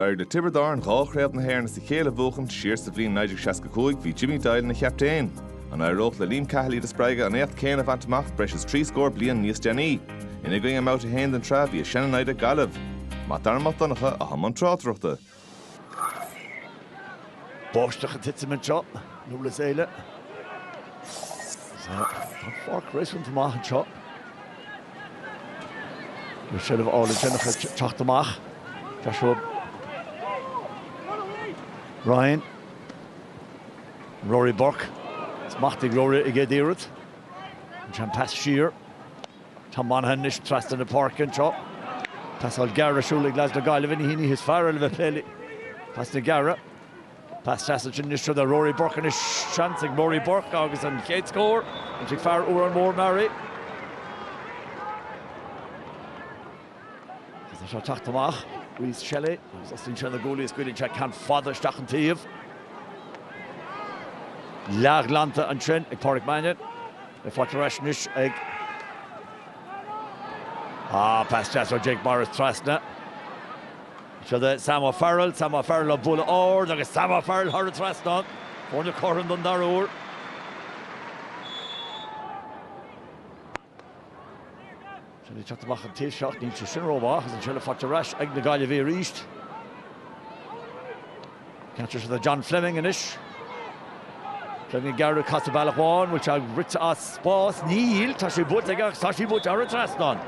D'éirigh le Tiobraid Árann dhá chraobh na hÉireann as a chéile a bhuachan, siar sa bhliain 1965 bhí Jimmy Doyle ina chaptaen. An éireodh le Liam Cahill iad a spreagadh an éacht céanna a bhaint amach breis is trí scór bliain níos déanaí? Ina gcoinne i mBabhta 1 den tsraith bhí a sean-naimhde Gaillimh. Mac Dara Mac Donncha, i mbun tráchtaireachta. Báisteach ag titim anseo, i nDurlas Éile. Tá an pháirc réasúnta maith anseo. Bhí seilbh álainn déanach ag teacht amach. Joshua Ryan. Rory Burke. Smacht ag Rory ar an gcéad iarracht. Ansin pas siar. Tom Monaghan anois trasna na páirce anseo. Pasáil gearr ar siúl ag leads na Gaillimhe. Ní hí an oíche is fearr le bheith ag plé le pasanna gearra. Pas deas ansin anois go dtí Rory Burke anois seans ag Rory Burke agus an chéad scór. Faighte ag fear Órán Mór Meáraí. Agus é seo ag teacht amach, Rhys Shelly, agus osclaíonn sé na guaillí scaoileann sé ceann fada isteach an taobh. Leathghlanta ansin ag Padraic Mannion. Ach faighte ar ais anois ag. Ah, pas deas ó Jake Morris trasna. Go dtí Sam O'Farrell, Sam O'Farrell á bualadh ard agus Sam O'Farrell á cur thar an trasnán. Foirne cothrom don dara huair. Is é ag teacht amach an taobh seo, níl sé sin rómhaith agus an seilbh faighte ar ais ag na Gaillimhigh arís. Ceann deas ansin do John Fleming anois. Fleming ag gearradh casadh bealach amháin, bhfuil sé rite as spás? Níl, tá sé buailte aige ach tá sí buailte thar an trasnán.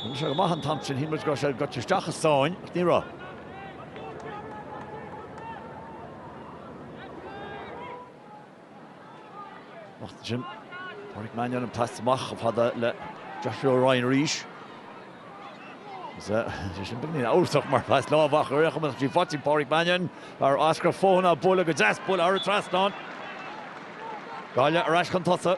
Rinne sé go maith an t-am sin, shíl muid go raibh sé ag goil isteach i sáinn ach ní raibh. Amach ansin. Padraic Mannion an pas amach chomh fada le Joshua Ryan arís. Bhí sé sin beagáinín amhrasach mar phas lámh ach is cuma, tá sí faighte ag Padraic Mannion fear Áth Eascrach Fothaine á bualadh go deas, á bualadh thar an trasnán. Gaillimh ar ais chun tosaigh.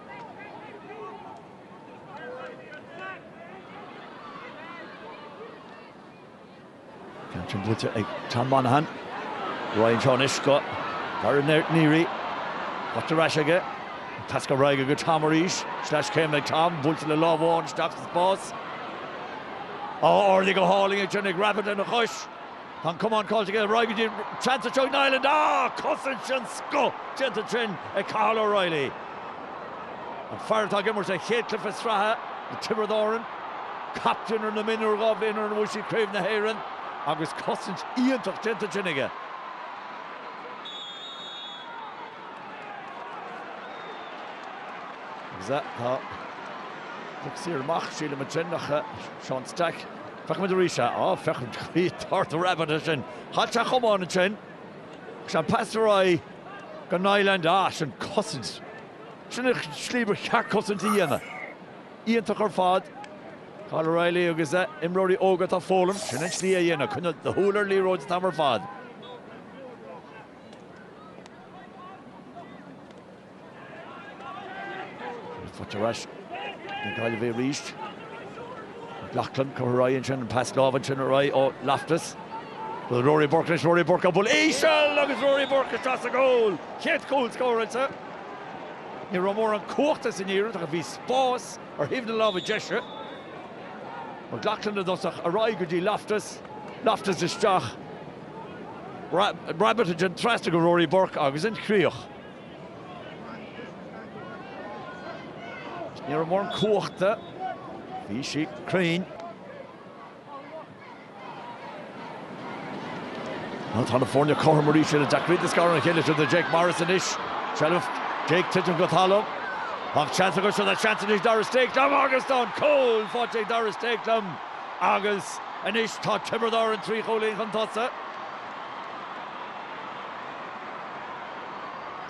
Ceann sin buaite ag Tom Monaghan. Roinneann sé anois go Darragh Neary, faighte ar ais aige. An pas ar aghaidh aige go Tom arís. Sleaschéim ag Tom, buailte le lámh amháin isteach sa spás. Ardaithe go hálainn ag Johnny, Rabbitte lena chois. Tá an camán caillte aige, ar aghaidh go dtí, seans anseo ag Niland ach cosaint den scoth déanta ansin ag Cathal O'Reilly, an fear atá ag imirt a chéad chluiche sraithe na Tiobraid Árann, captaen ar na mionúir dhá bhliain ó shin nuair a bhuaigh siad Craobh na hÉireann agus cosaint iontach déanta ansin aige. Agus tá poc saor amach, sílim, ansin ag Seán Stack. Feicimid arís é. Á, feicimid go dtí thart ar Rabbitte ansin. Chaill sé a chamán ansin. Agus an pas ar aghaidh go Niland. Á, sin cosaint. Sin an slí ba cheart cosaint a dhéanamh. Iontach ar fad. Cathal O'Reilly agus a imreoirí óga atá ag foghlaim. Sin an slí a dhéanamh. Coinneáil do shúil ar an liathróid an t-am ar fad. Faighte ar ais ag na Gaillimhigh arís. McLoughlin, curtha ar aghaidh ansin, an pas lámh ansin ar aghaidh ó Loftus. Bhuail Rory Burke leis, Rory Burke, á bualadh íseal agus Rory Burke isteach sa gcúl! Chéad chúl scóráilte. Ní raibh mórán cumhachta san iarracht ach bhí spás ar thaobh na láimhe deise. McLoughlin i dtosach, ar aghaidh go dtí Loftus, Loftus isteach, Rabbitte ansin trasna go Rory Burke agus an chríoch. Ní raibh mórán cumhachta. Bhí sí cruinn. Tá na foirne cothrom arís, an-deacair iad a scaradh óna chéile. Seo do Jake Morris anois. Seilbh Jake ag titim go talamh. Ach seans acu anseo, tá seans anois ag Darragh Stakelum agus tá an cúl faighte ag Darragh Stakelum agus anois tá Tiobraid Árann trí chúilín chun tosaigh.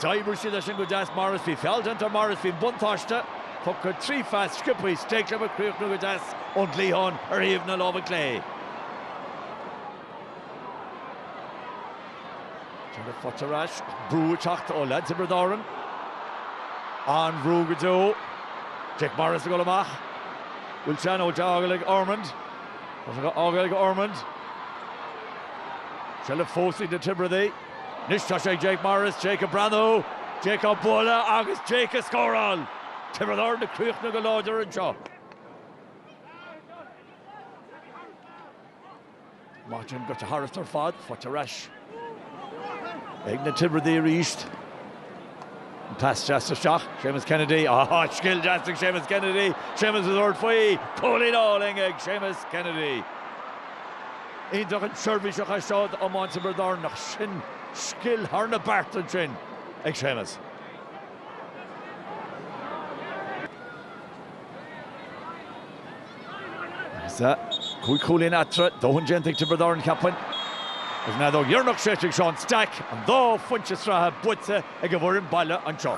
D'oibrigh siad é sin go deas Morris bhí feall déanta ar Morris bhí an buntáiste tugtha, trí phas sciopthaí Stakelum á chríochnú go deas ón gcliathán ar thaobh na láimhe clé. Tá sé faighte ar ais brú ag teacht ó leaids Thiobraid Árann. An-bhrú go deo. Jake Morris ag dul amach. Bhfuil sé in ann é a fhágáil ag Ormond. Tá sé dhá fhágáil ag Ormond. Seilbh fós ag na Tiobradaigh. Anois tá sé ag Jake Morris, Jake ag breathnú, Jake á bualadh agus Jake ag scóráil! Tiobraid Árann ag críochnú go láidir anseo. Maith den gaibhte thairis ar fad, faighte ar ais ag na Tiobradaigh arís. Pas deas isteach, Séamus Kennedy. Ááá, scil deas ag Séamus Kennedy! Séamus ag tabhairt faoi! Cúilín álainn ag Séamus Kennedy. Iontach an seirbhís a chaith sé seo d'iomáint Thiobraid Árann. Ach sin scil thar na bearta ansin ag Séamus. Agus cúig chúilín eatarthu, dóthain déanta ag Tiobraid Árann, cheapfainn. Agus an fheadóg dheireanach séidte ag Seán Stack, an dá phointe sraithe buaite ag an bhfoireann baile anseo.